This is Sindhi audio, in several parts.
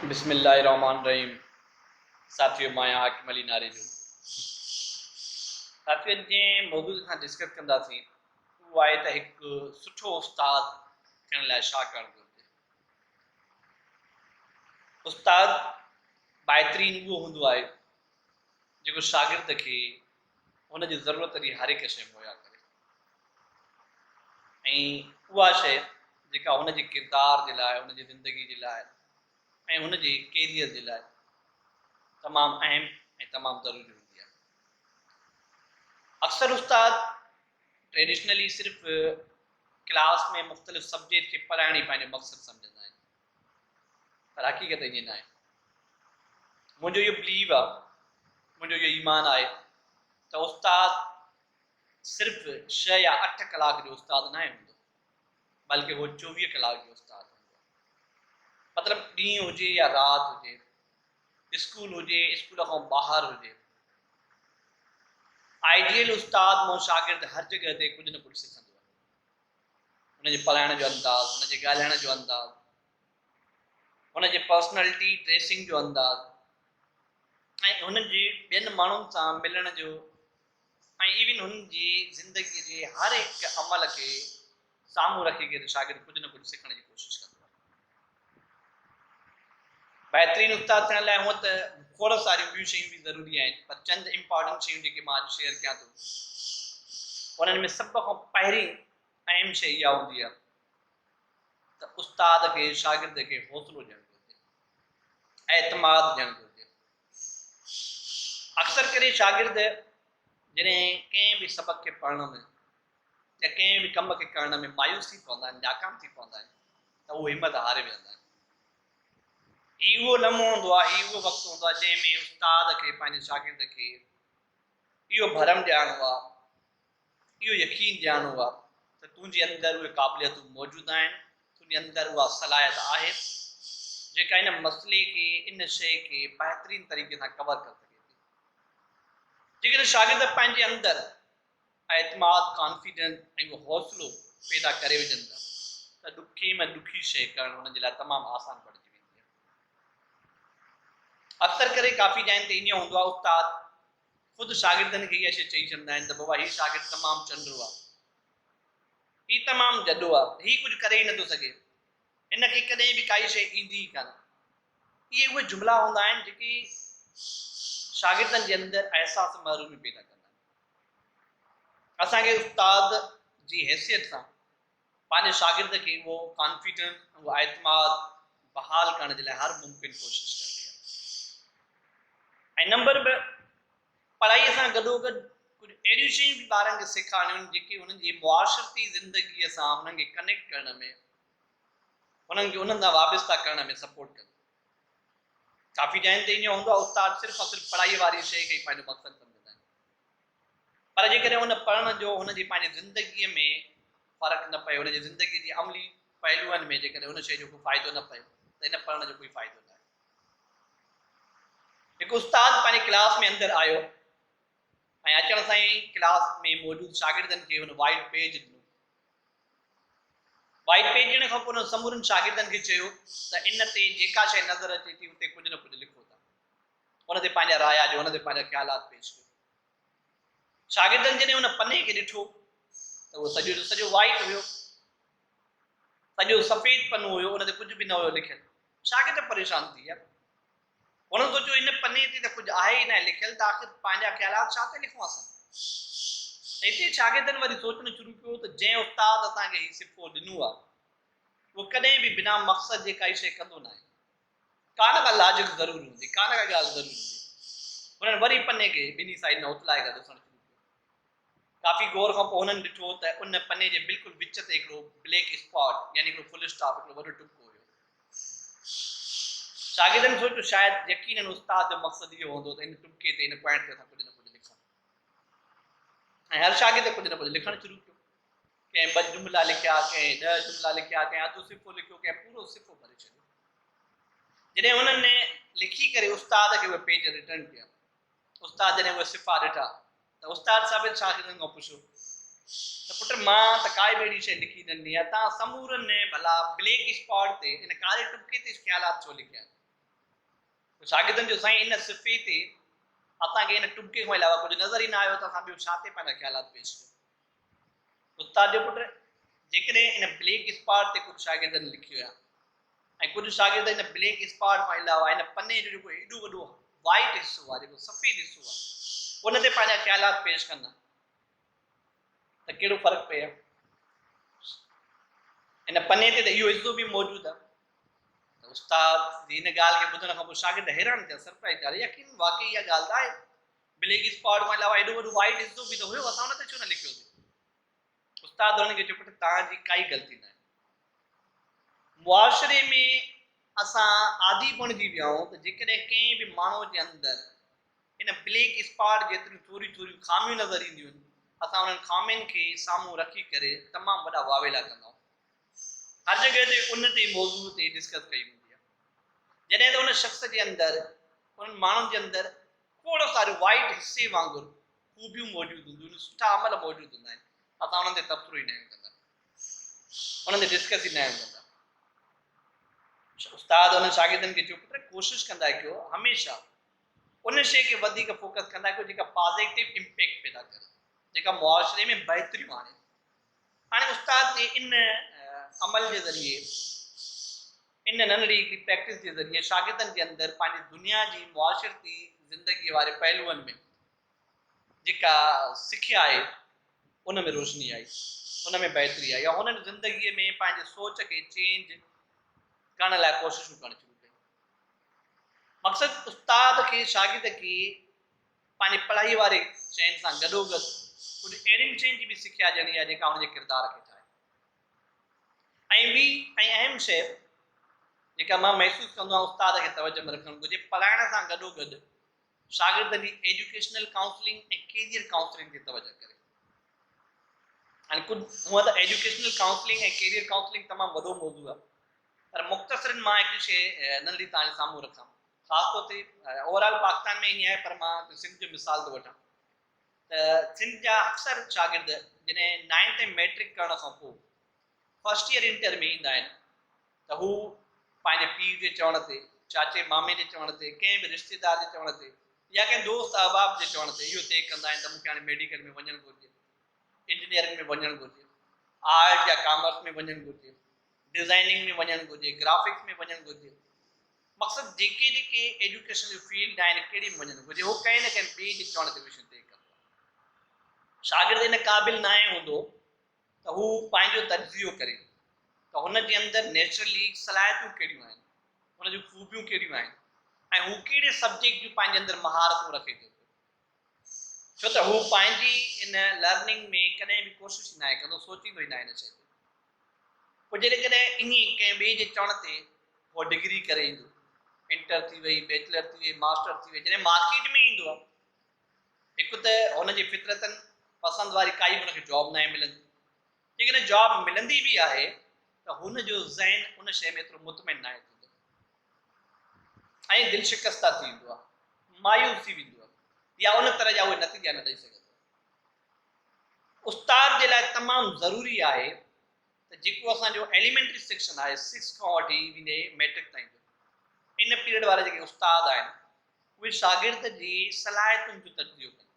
بسم الله الرحمٰن الرحيم ساٿيو مان آهيان حاڪم علي ناري جو ساٿيو ان جي موضوع سان ڊسڪس ڪنداسين اهو آهي ته هڪ سٺو استاد ٿيڻ لاء ڇا ڪرڻ گهرجي استاد بهترين اهو هوندو آهي جيڪو شاگرد کي هن جي ضرورت جي هر هڪ شيء مهيا ڪري ۽ اها شيء جيڪا هن جي ڪردار جي لاء هن جي زندگي جي لاء ۽ هن جي ڪيريئر جي لاء تمام اهم ۽ تمام ضروري هوندي آهي اڪثر استاد ٽريڊيشنلي صرف ڪلاس ۾ مختلف سبجيڪٽ کي پڙهائڻ ئي پنهنجو مقصد سمجهندا آهن پر حقيقت ائين ناهي. منهنجو اهو بليو آهي، منهنجو اهو ايمان آهي ته استاد صرف ڇهه يا اٺ ڪلاڪ جو استاد ناهي هوندو، بلڪه هو چوويهه ڪلاڪ جو استاد هوندو آهي. مطلب ڏينهن هجي يا رات هجي، اسڪول هجي، اسڪول کان ٻاهر هجي. آئيڊيل استاد مان شاگرد هر جڳهه تي ڪجهه نه ڪجهه سکندو آهي. هن جي پلائڻ جو انداز، هن جي ڳالهائڻ جو انداز، هن جي پرسنالٽي، ڊريسنگ جو انداز ۽ هن جي ٻين ماڻهن سان ملڻ جو ۽ ايون هن جي زندگي جي هر هڪ عمل کي سامهون رکي ڪي ته شاگرد ڪجهه نه ڪجهه سکڻ جي ڪوشش ڪندو آهي. بهترين استاد ٿيڻ لاء هونئن ته کوڙ ساريون ٻيون شيون به ضروري آهن پر چند امپارٽنٽ شيون جيڪي مان اڄ شيئر ڪيان ٿو انهن ۾ سڀ کان پهرين اهم شيء اها هوندي آهي ته استاد کي شاگرد کي حوصلو ڏيڻ گهرجي اعتماد ڏيڻ گهرجي اڪثر ڪري شاگرد جڏهن ڪنهن به سبق کي پڙهڻ ۾ جي ڪنهن به ڪم کي ڪرڻ ۾ مايوس ٿي پوندا آهن، ناڪام ٿي پوندا آهن ته هو همت هاري ويهندا آهن. هي اهو لمحو هوندو آهي، هي اهو وقت هوندو آهي جنهن ۾ استاد کي پنهنجي شاگرد کي اهو ڀرم ڏيارڻو آهي، اهو يقين ڏيارڻو آهي ته تنهنجي اندر اهي قابليتون موجود آهن، تنهنجي اندر اها صلاحيت آهي جيڪا ان مسئلي کي، ان شيء کي بهترين طريقي سان ڪور ڪري سگهي ٿي. جيڪڏهن شاگرد پنهنجي اندر اعتماد، Confidence، ۽ اهو حوصلو پيدا ڪري وجهن ٿا ته ڏکي ۾ ڏکي شيء ڪرڻ هن جي لاء تمام آسان بڻجي ويندي آهي. اڪثر ڪري ڪافي جاين تي ائين هوندو آهي استاد خود شاگردن کي اها شيء چئي ڇڏندا آهن ته بابا هي شاگرد تمام چنڊرو آهي، هي تمام جڏو آهي، هي ڪجهه ڪري ئي نٿو سگهي، هن کي ڪڏهن به ڪائي شيء ايندي ئي ڪانه. اهي اهي جملا هوندا آهن جيڪي شاگردن جي اندر احساس محرومي پيدا ڪندا آهن. اسان کي استاد جي حيثيت سان پنهنجي شاگرد کي اهو ڪانفيڊنس اهو اعتماد بحال ڪرڻ جي لاء هر ممڪن ڪوشش ڪرڻي آهي ۽ نمبر ٻه پڙهائي سان گڏو گڏ ڪجهه اهڙيون شيون به ٻارن کي سيکارڻيون جيڪي هنن جي معاشرتي زندگي سان هنن کي ڪنيڪٽ ڪرڻ ۾ هنن کي انهن سان وابستا ڪرڻ ۾ سپورٽ ڪنديون ڪافي ٽائيم تائين ائين هوندو آهي استاد صرف ۽ صرف پڙهائي واري شيء کي ئي پنهنجو مقصد سمجهندا آهن پر جيڪڏهن ان پڙهڻ جو هن جي پنهنجي زندگيء ۾ فرق نه پئي هن جي زندگيء جي عملي پهلوئن ۾ جيڪڏهن ان شيء جو ڪو فائدو نه پئي ته ان پڙهڻ جو ڪوئي فائدو نه آهي هڪ استاد پنهنجي ڪلاس ۾ اندر آيو ۽ اچڻ سان ئي ڪلاس ۾ موجود شاگردن کي هن وائيٽ پيج ڏنو وائي پيٽڻ کان پوء هن سمورن شاگردن کي چيو ته ان تي جيڪا شيء نظر اچي ٿي اتي ڪجهه نه ڪجهه لکو ته ان تي پنهنجا رايا ڏيو ان تي پنهنجا خيالات پيش ڪيو شاگردن جڏهن ان پني کي ڏٺو ته اهو سڄو جو سڄو وائيٽ هيو سڄو سفيد پنو هيو ان تي ڪجهه به نه هيو لکيل شاگرد پريشان ٿي ويا هن سوچيو هن پني تي ته ڪجهه آهي ئي ناهي لکيل ته آخر پنهنجا خيالات ڇا تي لکون اسان؟ ۽ اتي شاگردن وري سوچڻ شروع ڪيو ته جنهن استاد اسان کي هي صفو ڏنو آهي اهو ڪڏهن به بنا مقصد جي ڪائي شيء ڪندو ناهي. ڪا نه ڪا لاجڪ ضرور هوندي، ڪا نه ڪا ڳالهه ضرور هوندي. هنن وري پني کي ٻنهي سائيڊ نه اتلائي ڪري ڏسڻ شروع ڪيو. ڪافي غور کان پوء هنن ڏٺو ته ان پني جي بلڪل وچ تي هڪڙو بليڪ اسپاٽ يعني هڪڙو فل اسٽاپ، هڪڙو وڏو ٽپڪو، هيو. شاگردن سوچيو ته شايد يقينن استاد جو مقصد اهو هوندو ته ان ٽپڪي تي، ان پوائنٽ تي اسان ڪجهه نه ڪجهه لکون. ۽ هر شاگرد ڪجهه نه ڪجهه لکڻ شروع ڪيو. ڪنهن ٻه جملا لکيا، ڪنهن ڏهه جملا لکيا، ڪنهن اڌ صفحو لکيو، ڪنهن پورو صفحو ڀري ڇڏيو. جڏهن هنن لکي ڪري استاد کي اهي پيج رٽرن ڪيا. استاد جڏهن اهي صفحا ڏٺا. ته استاد ثابت شاگردن کان پڇيو ته پٽ مان ته ڪائي به اهڙي شيء لکي نه ڏني آهي، توهان سمورن نئين ڀلا بليڪ اسپاٽ تي ان ڪاري ٽٻڪي تي خيالات ڇو لکيا آهن؟ ته شاگردن چيو سائين ان صفحي تي اسان کي ان ٽٻڪي کان علاوه ڪجهه نظر ئي نه آيو ته اسان ٻيو ڇا تي پنهنجا خيالات پيش ڪيون؟ استاد جو پٽ، جيڪڏهن ان بلينڪ اسپاٽ تي ڪجهه شاگردن لکي ويا ۽ ڪجهه شاگرد ان بلينڪ اسپاٽ کان علاوه ان پني جو جيڪو ايڏو وڏو وائيٽ حصو آهي، جيڪو سفيد حصو آهي، ان تي پنهنجا خيالات پيش ڪندا ته ڪهڙو فرق پئي ها. ان پني تي ته اهو حصو به موجود آهي. ته استاد جي ان ڳالهه کي ٻڌڻ کان پوء شاگرد حيران ٿيا، سرپرائز ٿيا، يقين واقعي اها ڳالهه ته آهي. بليڪ اسڪواڊ کان علاوه ايڏو وڏو وائيٽ حصو به ته هيو، اسان ان تي ڇو نه لکيوسين؟ استاد هنن کي چيو پٽ توهان جي ڪائي غلطي ناهي. معاشري ۾ اسان عادي بڻجي ويا آهيون ته جيڪڏهن ڪنهن به ماڻهو جي اندر ان بليڪ اسڪواڊ جيتريون ٿوريون ٿوريون خاميون نظر اينديون آهن، اسان انهن خامين کي سامهون رکي ڪري تمام وڏا واويلا ڪندا آهيون. هر جڳهه تي ان تي موضوع تي ڊسڪس ڪئي ويندي آهي. جڏهن ته ان شخص جي اندر، انهن ماڻهن جي اندر کوڙ ساريون وائيٽ حصي وانگر خوبيون موجود هونديون آهن، سٺا عمل موجود هوندا آهن، اسان انهن تي تبصرو ئي ناهيون ڪندا، انهن تي ڊسڪس ئي ناهيون ڪندا. استاد انهن شاگردن کي چيو پٽ ڪوشش ڪندا ڪيو هميشه ان شيء کي وڌيڪ فوڪس ڪندا ڪيو جيڪا پازيٽو امپيڪٽ پيدا ڪري، جيڪا معاشري ۾ بهتريون آڻي. هاڻي استاد جي ان عمل جي ذريعي، ان ننڍڙي هڪڙي پريڪٽس جي ذريعي شاگردن جي اندر پنهنجي دنيا جي معاشرتي زندگيء واري پهلوئن ۾ جيڪا سکيا آهي ان ۾ روشني آئي، ان ۾ بهتري آئي ۽ هنن زندگيء ۾ پنهنجي سوچ کي چينج ڪرڻ لاء ڪوششون ڪرڻ شروع ڪيون. مقصد استاد کي شاگرد کي پنهنجي پڙهائي واري شين سان گڏوگڏ ڪجهه اهڙين شين جي به سکيا ڏيڻي آهي جيڪا هن جي ڪردار کي ٺاهي ۽ ٻي ۽ اهم شيء جيڪا مان محسوس ڪندو آهيان استاد کي توجه ۾ رکڻ گهرجي پڙهائڻ سان گڏوگڏ شاگردن جي ايجوڪيشنل ڪائونسلنگ ۽ ڪيريئر ڪائونسلنگ تي توجه ڪري هاڻي ڪجهه هونء ته ايجوڪيشنل ڪائونسلنگ ۽ ڪيريئر ڪائونسلنگ تمام وڏو موضوع آهي پر مختصرن مان هڪ شيء ننڍڙي توهان جي سامهون رکان خاص طور تي اوور آل پاڪستان ۾ ائين آهي پر مان سنڌ جو مثال ٿو وٺان ته سنڌ جا اڪثر شاگرد جڏهن نائنٿ ۽ ميٽرڪ ڪرڻ کان پوء فرسٽ ايئر انٽر ۾ ايندا آهن ته هو پنهنجي پيء جي چوڻ تي چاچي مامي جي چوڻ تي ڪنهن به رشتيدار جي چوڻ تي يا ڪنهن دوست احباب جي چوڻ تي اهو طئي ڪندا آهن ته مونکي هاڻي ميڊيڪل ۾ وڃڻ گهرجي انجنيئرنگ ۾ وڃڻ گهرجي آرٽ يا ڪامرس ۾ وڃڻ گهرجي ڊزائننگ ۾ وڃڻ گهرجي، گرافڪس ۾ وڃڻ گهرجي، مقصد جيڪي جيڪي ايجوڪيشن جون فيلڊ آهن ڪهڙي ۾ وڃڻ گهرجي اهو ڪنهن نه ڪنهن ٻئي جي چوڻ تي مشن طئي ڪبو آهي. شاگرد ان قابل ناهي هوندو ته هو پنهنجو تجزيو ڪري ته هن جي اندر نيچرلي صلاحيتون ڪهڙيون آهن، هن جون خوبيون ڪهڙيون آهن ۽ هو ڪهڙي سبجيڪٽ جون پنهنجي اندر مهارتون رکي ٿو پيو. ڇو ته هو پنهنجي ان لرننگ ۾ ڪڏهن به ڪوشش ئي ناهي ڪندو، سوچيندو ئي ناهي ان شيء تي. پوء جيڪڏهن انهي ڪنهن ٻئي جي چوڻ تي هو ڊگري ڪري ايندو، انٽر ٿي وئي، بيچلر ٿي وئي، ماسٽر ٿي وئي، جڏهن مارڪيٽ ۾ ايندو آهي، هڪ ته هن جي فطرتن پسند واري ڪائي به هن کي جاب ناهي ملندي، جيڪڏهن جاب ملندي به آهي ته هن جو ذهن ان شيء ۾ ايترو مطمئن ناهي ٿيندو ۽ دل شڪسته ٿي ويندو آهي، مايوس ٿي ويندو آهي يا ان طرح جا اهي نتيجا نه ڏئي سگهندو آهي. استاد جي لاء تمام ضروري آهي ته جيڪو اسان جو ايليمينٽري سيڪشن آهي سڪس کان وٺي ويندي ميٽرڪ تائين جو ان پيريڊ وارا جيڪي استاد آهن اهي شاگرد جي صلاحيتن جو تجزيو ڪن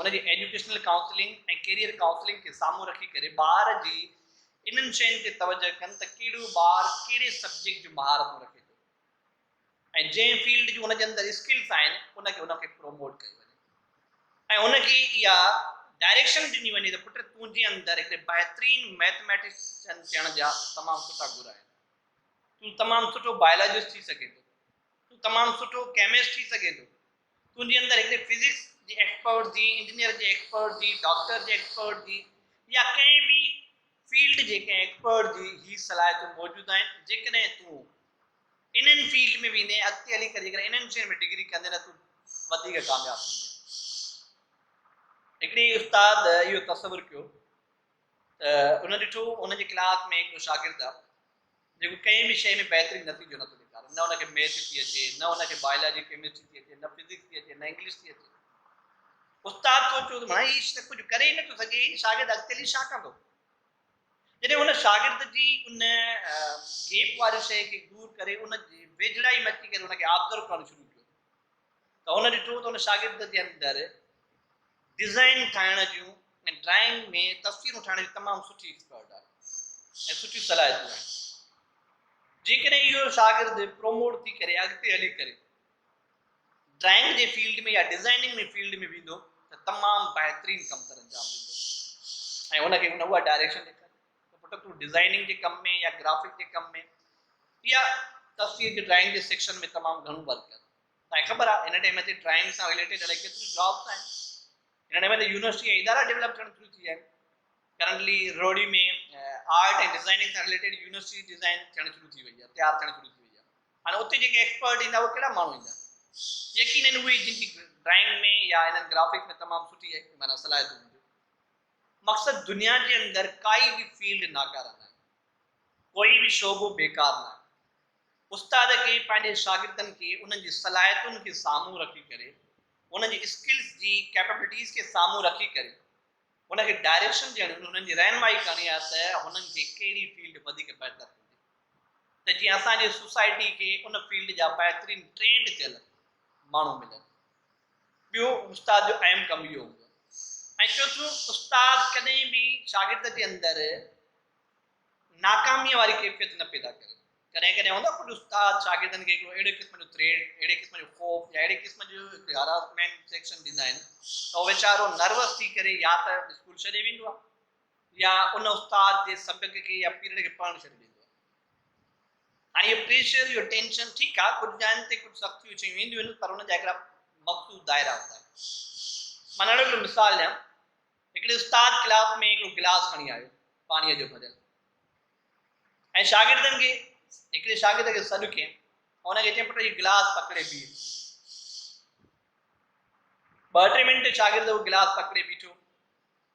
ان جي ايجوڪيشنل ڪائونسلنگ ۽ ڪيريئر ڪائونسلنگ کي سامهون رکي ڪري ٻار جي انهن شين تي توجهه ڪن ته ڪهڙو ٻار ڪهڙي سبجيڪٽ جون مهارتون رکي ٿو ۽ جنهن فيلڊ جون هن جي اندر اسڪلس آهن ان کي هن کي پروموٽ ڪيو وڃي ۽ هن کي اها ڊائريڪشن ڏني وڃي ته پٽ تون جي اندر هڪڙي بهترين ميٿميٽيشن ٿيڻ جا تمام سٺا گر آهن تون تمام سٺو بايولاجسٽ ٿي سگهين ٿو تون تمام سٺو ڪيمسٽ ٿي سگهين ٿو تنهنجي اندر هڪڙي فزڪس جي ايڪسپرٽ جي، انجنيئر جي ايڪسپرٽ جي، ڊاڪٽر جي ايڪسپرٽ جي يا ڪنهن به فيلڊ جي ڪنهن ايڪسپرٽ جي هي صلاحيتون موجود آهن جيڪڏهن تون انهن فيلڊ ۾ ويندين اڳتي هلي ڪري جيڪڏهن انهن شين ۾ ڊگري ڪندين ته تون وڌيڪ ڪامياب ٿيندين هڪڙي استاد اهو تصور ڪيو ته ان ڏٺو ان جي ڪلاس ۾ هڪڙو شاگرد جيڪو ڪنهن به شيء ۾ بهترين نتيجو نٿو ڏيکاري، نه ان کي ميٿ ٿي اچي، نه ان کي بائلاجي، ڪيمسٽري ٿي اچي، نه فزڪس ٿي اچي، نه انگلش ٿي اچي. استاد سوچيو ته ڀائي هي ته ڪجهه ڪري ئي نٿو سگهي، هي شاگرد اڳتي هلي ڇا ڪندو؟ جڏهن هن شاگرد جي ان گيپ واري شيء کي دور ڪري ان جي ويجهڙائي ۾ اچي ڪري ان کي آبزرو ڪرڻ شروع ڪيو. ته هن ڏٺو ته هن شاگرد جي اندر ڊزائن ٺاهڻ جون ۽ ڊرائنگ ۾ تصويرون ٺاهڻ جي تمام سٺي ايڪسپرٽ آهي ۽ سٺيون صلاحيتون آهن جيڪڏهن اهو شاگرد پروموٽ ٿي ڪري اڳتي هلي ڪري ڊرائنگ جي فيلڊ ۾ يا ڊزائننگ جي فيلڊ ۾ ويندو ته تمام بهترين ڪم سر انجام ڏيندو ۽ هن کي هن اها ڊائريڪشن ڏيکاري ته پٽ تون ڊزائننگ جي ڪم ۾ يا گرافڪ جي ڪم ۾ يا تصوير جي ڊرائنگ جي سيڪشن ۾ تمام گهڻو ورڪ ڪر. تانکي خبر آهي هن ٽائيم تي ڊرائنگ سان رليٽيڊ اهڙي ڪيتريون جابس آهن. هن ٽائيم تي يونيورسٽي ۽ ادارا ڊيولپ ٿيڻ شروع ٿي ويا آهن. ڪرنٽلي روهڙي ۾ آرٽ ۽ ڊزائننگ سان رليٽيڊ يونيورسٽي ڊزائن ٿيڻ شروع ٿي وئي آهي تيار ٿيڻ شروع ٿي وئي آهي. هاڻي اتي جيڪي ايڪسپرٽ ايندا اهي ڪهڙا ماڻهو ايندا؟ يقينن اهي جن جي ڊرائنگ ۾ يا انهن گرافڪ ۾ تمام سٺي معنيٰ صلاحيتون هونديون. مقصد دنيا جي اندر ڪائي به فيلڊ ناڪاره ناهي، ڪوئي به شعبو بيڪار ناهي. استاد کي پنهنجي شاگردن کي انهن جي صلاحيتن کي سامهون رکي ڪري، انهن جي اسڪلز جي ڪيپبلٽيز کي سامهون رکي ڪري هن کي ڊائريڪشن ڏيڻ انهن جي رهنمائي ڪرڻي آهي ته هنن کي ڪهڙي فيلڊ وڌيڪ بهتر هوندي ته جيئن اسان جي سوسائٽي کي ان فيلڊ جا بهترين ٽرينڊ ٿيل ماڻهو ملن. ٻيو استاد جو اهم ڪم اهو هوندو آهي ۽ چوٿون استاد ڪڏهن به شاگرد جي اندر ناڪاميء واري ڪيفيت نه پيدا ڪري ڪڏهن ڪڏهن هوندو ڪجهه استاد شاگردن کي هڪڙو اهڙي قسم جو ٿريڊ اهڙي قسم جو خوف يا اهڙي قسم جو هراسمينٽ سيڪشن ڏيندا آهن ته هو ويچارو نروس ٿي ڪري يا ته اسڪول ڇڏي ويندو آهي يا ان استاد جي سبق کي يا پيريڊ کي پڙهڻ ڇڏي ڏيندو آهي. هاڻي اهو پريشر اهو ٽينشن ٺيڪ آهي ڪجهه جاين تي ڪجهه سختيون شيون اينديون آهن پر ان جا هڪڙا مخصوص دائرا هوندا آهن. مان ننڍڙو هڪڙو مثال ڏيان هڪڙي استاد ڪلاس ۾ هڪڙو گلاس کڻي آيو پاڻيء جو ڀريل ۽ شاگردن کي هڪڙي شاگرد کي سڏ ڪيم ان کي چيم پٽ هي گلاس پڪڙي بيهه ٻه ٽي منٽ شاگرد اهو گلاس پڪڙي بيٺو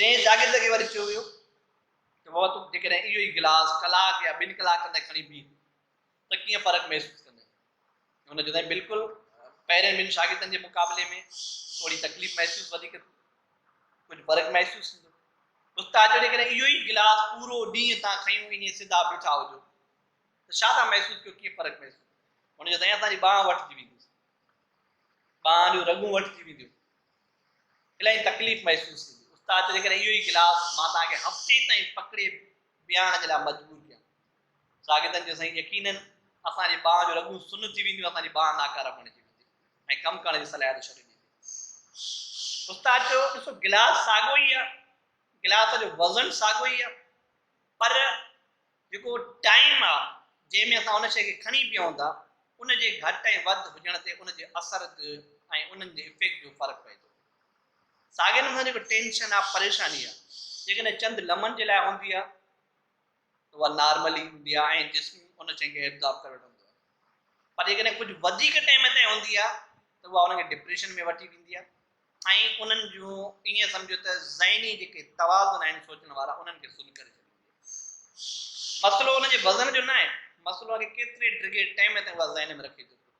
ٽئين شاگرد کي وري چيو ويو ته بابا تون جيڪڏهن اهو ئي گلاس ڪلاڪ يا ٻن ڪلاڪن تائين کڻي پيء ته ڪيئن فرق محسوس ڪندين؟ هن چيو سائين بلڪل پهرين ٻن شاگردن جي مقابلي ۾ ٿوري تڪليف محسوس وڌيڪ ٿيندي ڪجهه فرق محسوس ٿيندو استاد چيو جيڪڏهن اهو ئي گلاس پورو ڏينهن تان کنيو ائين سڌا بيٺا هجو ته ڇا تان محسوس ڪيو ڪيئن فرق محسوس هن چيو سائين اسان جي ٻانهن وٺجي ويندي ٻانهن جون رڳون وٺجي وينديون الائي تڪليف محسوس ٿيندي. استاد ته جيڪڏهن اهو ئي ڪلاس مان توهان کي هفتي تائين پڪڙي بيهارڻ جي لاء مجبور ڪيان. شاگردن چيو سائين يقيناً اسان جي ٻانهن جون رڳون سن ٿي وينديون اسان جي ٻانهن ناڪاره بڻجي ويندي ۽ ڪم ڪرڻ جي صلاحيت ڇڏي ڏيندي. استاد چيو ڏسو گلاس ساڳو ئي آهي گلاس جو وزن ساڳو ئي آهي پر جيڪو ٽائيم آ جنهن ۾ اسان ان شيء کي کڻي پيئون ٿا ان جي گهٽ ۽ وڌ هجڻ تي ان جي اثر تي ۽ انهن جي افيڪٽ جو فرق پئي ٿو. ساڳئي نموني سان جيڪو ٽينشن آ پريشاني آ جيڪڏهن چند لمحن جي لاء هوندي آ ته اها نارمل ئي هوندي آ ۽ جسم ان شيء کي ابزارب ڪري وٺندو آ پر جيڪڏهن ڪجهه وڌيڪ ٽائيم تائين هوندي آ ته اها ان کي ڊپريشن ۾ وٺي ويندي آ. ۽ انهن جون ائين سمجهه ته ذهني جيڪي توازن آهن سوچڻ وارا انهن کي سن ڪري ڇڏيندي. مسئلو ان جي وزن جو ناهي، مسئلو آهي ڪيتري ڊگهي ٽئم تائين اها ذهن ۾ رکي ٿو پيو،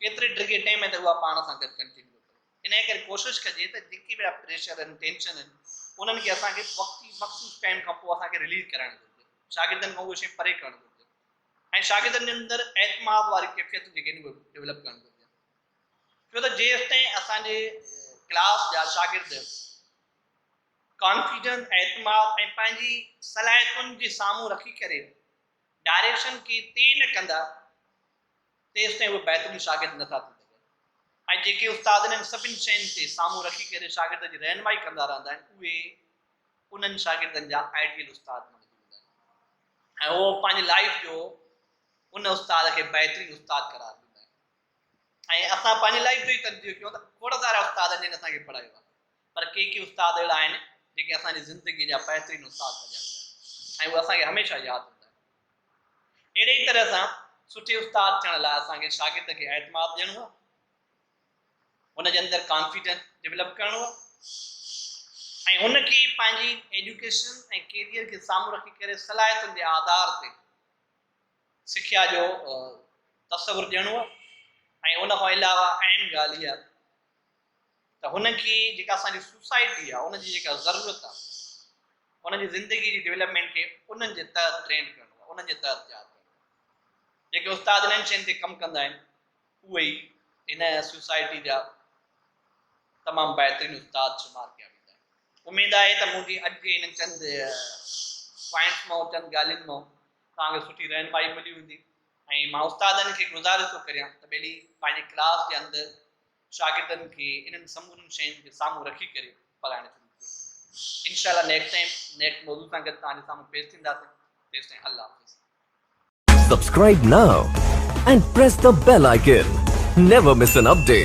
ڪيتري ڊگهي ٽئم تائين اها پاڻ سان گڏ ڪنٽينيو ڪري. انهيء ڪري ڪوشش ڪجي ته جيڪي به اهڙا پريشر آهن، ٽينشن آهن، انهن کي اسان کي وقتي مخصوص ٽئم کان پوء اسان کي رليز ڪرائڻ گهرجي، شاگردن کان اهي شيون پري ڪرڻ گهرجن ۽ شاگردن جي اندر اعتماد واري ڪيفيتون جيڪي آهن اهي ڊولپ ڪرڻ گهرجن. ڇو ته جيستائين اسان جي ڪلاس جا شاگرد ڪانفيڊنس، اعتماد ۽ پنهنجي صلاحيتن جي سامهون رکي ڪري ڊائريڪشن کي طئي نه ڪندا تيستائين اهي بهترين شاگرد نه ٿا ٿي سگهن ۽ جيڪي استاد انهن سڀني شين کي سامهون رکي ڪري شاگرد جي رهنمائي ڪندا رهندا آهن اهي انهن شاگردن جا آئيڊيل استاد بڻجي ويندا آهن ۽ اهو پنهنجي لائيف جو ان استاد کي بهترين استاد قرار ڏيندا آهن. ۽ اسان پنهنجي لائف جو ئي تجزيو ڪيون ته کوڙ سارا استاد جن اسان کي پڙهايو آهي پر ڪي ڪي استاد اهڙا آهن جيڪي اسان جي زندگي جا بهترين استاد سڏيا ويندا آهن ۽ اهي اسان کي هميشه ياد هوندا آهن اهڙي ئي طرح سان سٺي استاد ٿيڻ لاء اسان کي شاگرد کي اعتماد ڏيڻو آهي ان جي اندر ڪانفيڊنس ڊيولپ ڪرڻو آهي ۽ ان کي پنهنجي ايجوڪيشن ۽ ڪيريئر کي سامهون رکي ڪري صلاحيتن جي آڌار تي سکيا جو تصور ڏيڻو ۽ ان کان علاوه اهم ڳالهه اها ته هن کي جيڪا اسان جي سوسائٽي آهي ان جي جيڪا ضرورت آهي ان جي زندگي جي ڊيولپمينٽ کي انهن جي تحت ٽرين ڪرڻو آهي انهن جي تحت تيار ڪرڻو آهي جيڪي استاد انهن شين تي ڪم ڪندا آهن اهي ئي هن سوسائٽي جا تمام بهترين استاد شمار ڪيا ويندا آهن اميد آهي ته منهنجي اڄ جي هن چند پوائنٽس مان چند ڳالهين مان توهان کي سٺي رهنمائي ملي هوندي ۽ مان استادن کي گذارش ٿو ڪريان ته ٻيلي پنهنجي ڪلاس جي اندر شاگردن کي انهن سمورن شين کي سامهون رکي ڪري پڙهائڻ شروع ڪري انشاء الله نيڪسٽ ٽائيم نيڪسٽ موضوع سان گڏ توهان جي سامهون پيش ٿينداسين تيستائين الله حافظ Subscribe now and press the bell icon. Never miss an update.